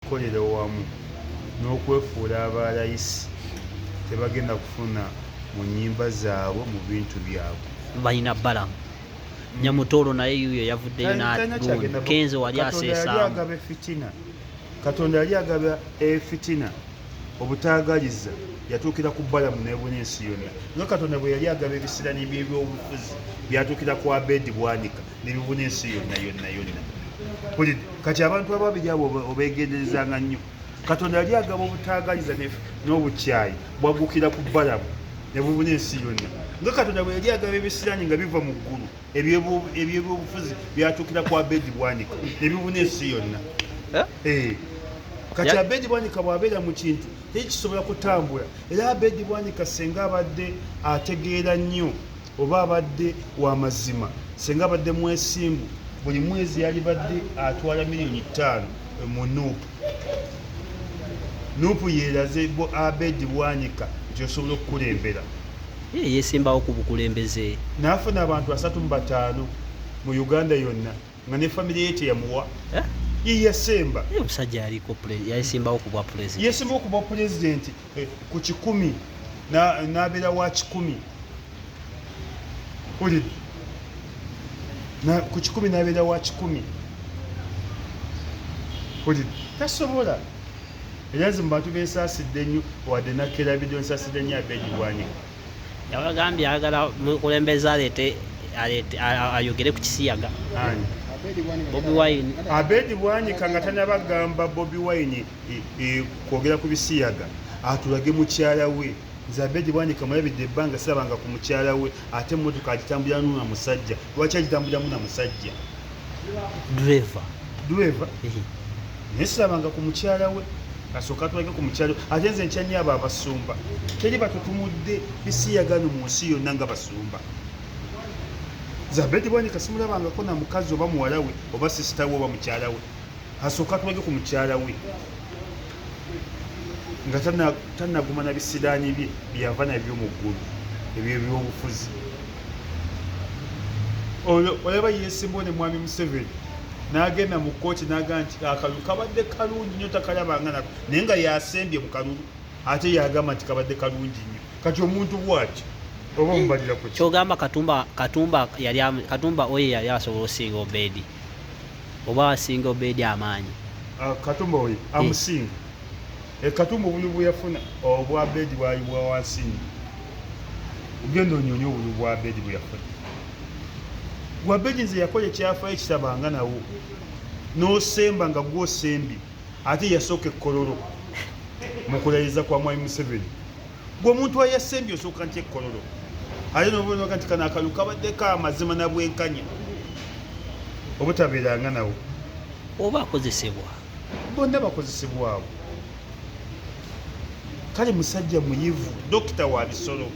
okukolera wamu n'okwefuula aba layisi tebagenda kufuna mu nyimba zaabwe mu bintu byabwe balina balamu nyamutoolo naye yuyo yavuddeyo nakenzo wali aseesaagaba efitina katonda yali agaba efitina obutaagaliza yatuukira ku balamu nebuna ensi yonna nga katonda bwe yali agaba ebisirani byebyobufuzi byatuukira ku abedi bwanika nebibunye ensi yonna yonna yonna kulide kati abantu ababiri abo obegenderezanga nnyo katonda yali agaba obutaagaliza n'obukyayi bwaggukira ku balamu nebubuna ensi yonna nga katonda bwe yali agaba ebisiraani nga biva mu ggulu ebyebyobufuzi byatuukira ku abedi bwanika nebibuna ensi yonna eh? Eh. kati abedi bwanika bwabeera mu kintu tekisobola kutambula era abedi bwanika senga abadde ategeera nnyo Oba abadde wa mazima, ssenga abadde mwesimbu, buli mwezi yalibadde atwala miliyoni ttaano mu nup. Nup yeraze bu Abed Bwanika nti osobola okukulembera. Ye yesimbawo ku bukulembeze. Nafuna abantu asatu mu bataano mu Uganda yonna. nga ne famire ye teyamuwa eh? yeyasemba omusajja yaliko yasimbawo kubwa pulezidenti yasimbawo kubwa pulezidenti eh, ku kikumi nabeera wa kikumi uli ku kikumi nabeera wa kikumi uli tasobola era nze mu bantu bensaasidde nnyo wadde nakkera bidio nsaasidde nnyo abeegibwanyika yabagambye ayagala mukulembeza aleete ayogere ku kisiyaga bobi wine abedi bwanyika nga tanabagamba bobi wine e, e, kwogera ku bisiyaga atulage mukyala we nze abedi bwanyika mulabidde ebbanga sirabanga ku mukyala we ate emotoka agitambulira nuna musajja lwaki agitambuliramu na musajja driver driver ehe nesilabanga ku mukyala we asooka tulage ku mukyala we ate nze nkyanyo abo abasumba teri batutumudde bisiyagano mu nsi yonna nga basumba zabedi bwanika simulabangako na mukazi oba muwala we oba sisita we oba mukyala we asooka tulage ku mukyala we nga tanaguma na bisiraani bye byeyava nabyo mu ggulu ebyo ebyobufuzi oyo olaba yesimbawo ne mwami museveni nagenda mu kkooti naga nti akalulu kabadde kalungi nyo takalabanga nako naye nga yasembye mu kalulu ate yagamba nti kabadde kalungi nyo kati omuntu bwaki oba omubalira ku kyogamba katumba katumba yali katumba oyo yali asobola osinga obedi oba asinga obedi amaanyi ah, katumba oyo eh. amusinga e katumba obunyu bweyafuna obwa oh, bedi bwali bwa wansi nyo ogenda onyonyi obunyu bwa bedi bweyafuna gwa bedi nze yakola ekyafayo ekitabanga nawo nosemba nga gwosembye ate yasooka ekololo mukulayiza kwa mwami museveni gwe omuntu ayasembye osooka nti ekkololo aye nobonoga nti kano akalu kabaddeko amazima na bwenkanya obutabeeranga nawo oba akozesebwa bonna bakozesebwa abo kale musajja muyivu dokita wa bisolo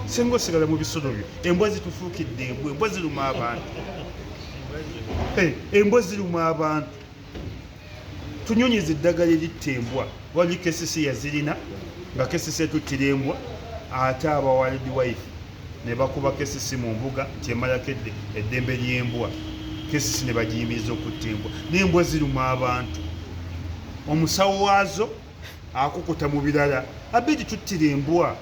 singa osigala mu bisolo byo embwa zitufuukidde embwa embwa ziruma abantu eh, embwa ziruma abantu tunyonyiza eddagala eritta embwa wali kesisi yazirina nga kesisi etuttira embwa ate abawalidi wife ne bakuba kesisi mu mbuga nti emalako eddembe ly'embwa kesisi ne bagiyimiriza okutta embwa n'embwa ziruma abantu omusawo waazo akukuta mu birala abedi tuttira embwa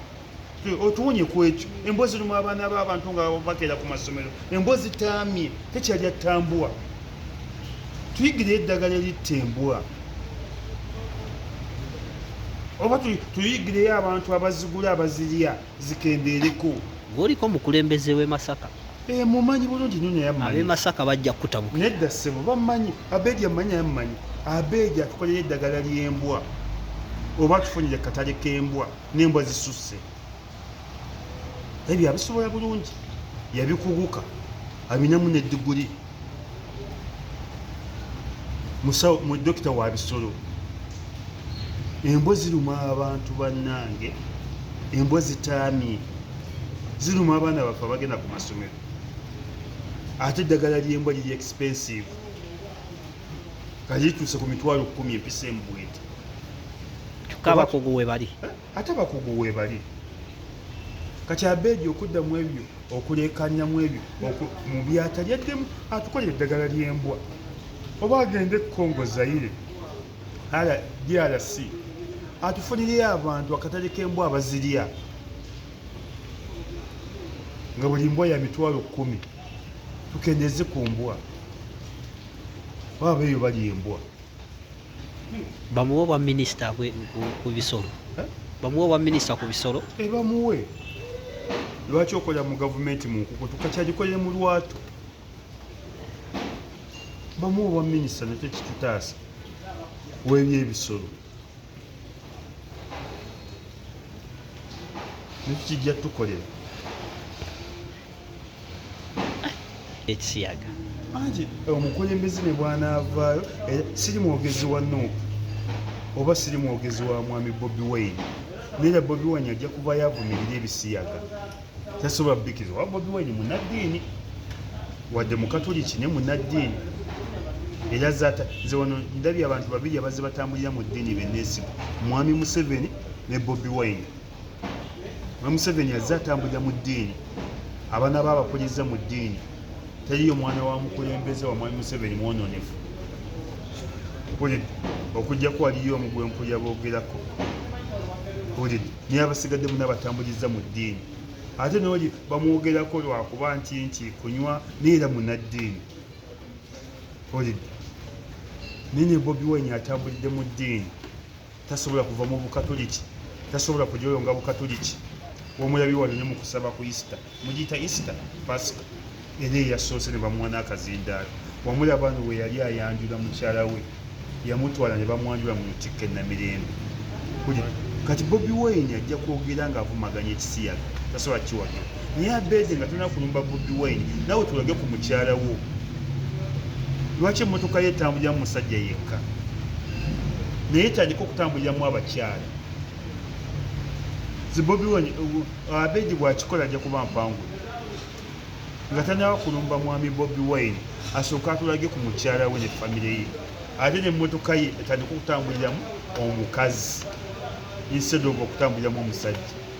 otuwonye ku ekyo embwa zirimu abaana b'abantu nga bakeera ku masomero embwa zitaamye tekyali attambwa tuyigire eddagala eritta embwa oba tuyigireyo abantu abazigula abazirya zikendeereko ng'oliko omukulembeze w'e masaka eh, mumanyi bulungi nyo naye amanyi ab'e masaka bajja kukutabuka nedda ssebo bamanyi abeedi amanyi naye amanyi abeedi atukolera eddagala ly'embwa oba atufunire katale k'embwa n'embwa zisusse ebyo abisobola bulungi yabikuguka abinamu ne diguli musawo mu dokita wa bisolo embwa ziruma abantu bannange embwa zitaamye ziruma abaana baffe abagenda ku masomero ate eddagala ly'embwa liri expensive kali lituuse ku mitwalo kkumi empisa embwete tukabakugu we bali ate abakugu webali kati abeedi okudda mu ebyo okuleekanya mu ebyo mu byatali addemu atukolera eddagala ly'embwa oba agenda ekongo zaire drc atufunireyo abantu akatale k'embwa abazirya nga buli mbwa ya mitwalo kkumi tukendeze ku mbwa baba eyo bali embwa bamuwe obwa minisita ku bisolo eh? bamuwe obwa minisita ku bisolo eh, bamuwe lwaki okolera mu gavumenti mu nkukutu kakyagikolere mu lwatu bamu obwa minisita nakyo kitutaasa webyebisolo nekyo kijja tukolera ekisiyaga anti eh, omukulembeze ne bwanaavaayo eh, siri mwogezi wa nuupu oba siri mwogezi wa mwami bobi wayne naye bobi wayne ajja kuba yavumirira ebisiyaga tasobola bikiriza oba bobi wayne munaddiini wadde mukatuliki ne munaddiini era zata nze wano ndabye abantu babiri abazze batambulira mu ddiini beneesiba mwami museveni ne bobi wayne Museveni azze atambulira mu ddiini, abaana be abakuliza mu ddiini. Teriyo mwana wa mukulembeze wa Mwami Museveni mwononefu. Mpulidde okujjako waliyo omu gwe mpulira boogerako. Mpulidde naye abasigadde muna batambulizza mu ddiini. Ate n'oli bamwogerako lwakuba nti nti kunywa naye era munaddiini. Mpulidde naye ne Bobi Wine atambulidde mu ddiini. tasobola kuva mu bukatuliki tasobola kujoyo nga bukatuliki womulabi wano ne mukusaba ku isita mugiyita isita pasika era eyasoose ne bamuwa n'akazindaalo wamulaba no we yali ayanjula mukyala we yamutwala ne bamwanjula mu lutikka enamirembe kuli kati bobi wine ajja kwogera ng'avumaganya ekisiyaga tasobola kiwagira naye abeede nga tolina kulumba bobi wine nawe tulage ku mukyala wo lwaki emotoka ye etambulira mu musajja yekka naye etandika okutambuliramu abakyala zibobi wine uh, abeede bwakikola ajja kuba mpangu nga tanawa kulumba mwami bobi wine asooka atulage ku mukyala we ne famire ye ate ne motoka ye etandika okutambuliramu omukazi instead of okutambuliramu omusajja